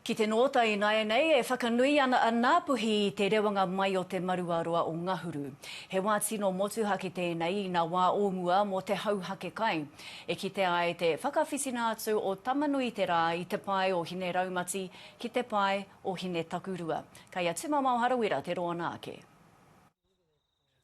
Ki te nōta ināianei, e whakanui ana a Ngāpuhi i te rewanga mai o te maruaroa o Ngahuru. He wā tino motuhake tēnei ina wā o mua mō te hauhake kai. E kitea ai te whakawhitina atu o Tamanuiterā i te pae o Hineraumati ki te pae o Hinetakurua. Kai a Tumamao Harawira te roa nā ake.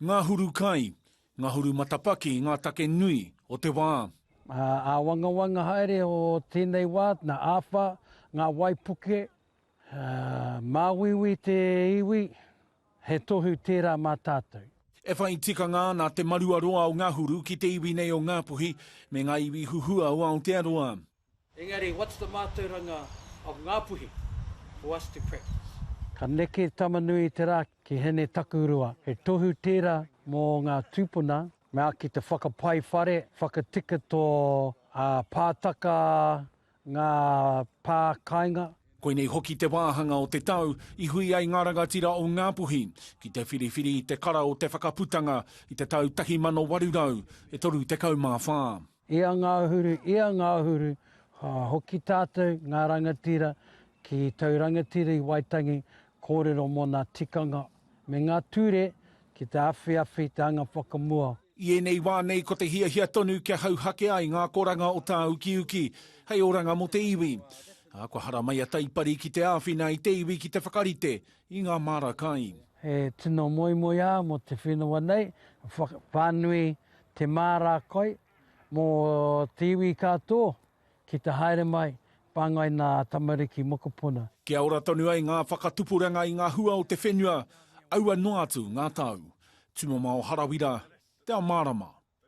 Ngahuru kai, ngahuru matapaki ngā take nui o te wā. Āwangawanga haere o tēnei wā, nā āwha, ngā waipuke, māuiui te iwi, he tohu tērā mā tātou. E whai tikanga ana te maruaroa o Ngahuru ki te iwi nei o Ngāpuhi me ngā iwi huhua o Aotearoa. Engari, what's the mātauranga of Ngāpuhi for us to practice? Ka neke Tamanui te rā ki Hine Takurua. He tohu tērā mō ngā tūpuna, me āki te whakapai whare, whakatika tō Pātaka ngā pā kainga. Koinei hoki te wāhanga o te tau i hui ai ngā rangatira o Ngāpuhi ki te whiriwhiri i te kara o te Whakaputanga i te tau 1834. I a Ngāhuru, i a Ngāhuru, ka hoki tātou, ngā rangatira, ki tau rangatira i Waitangi, kōrero mō nā tikanga me ngā ture ki te awhiawhi te anga whakamua. I ēnei wā nei ko te hiahia tonu kia hauhake ai ngā akoranga o tāukiuki hei oranga mō te iwi. Ā, kua haramai a Taipari ki te āwhina i te iwi ki te whakarite i ngā māra kai. He tino moemoeā mō te whenua nei, whānui te māra kai mō te iwi katō ki te haere mai, whāngai nā tamariki mokopuna. Kia ora tonu ai ngā whakatupuranga i ngā hua o te whenua, aua noa atu ngā tau. Tumamao Harawira, Te Ao Mārama.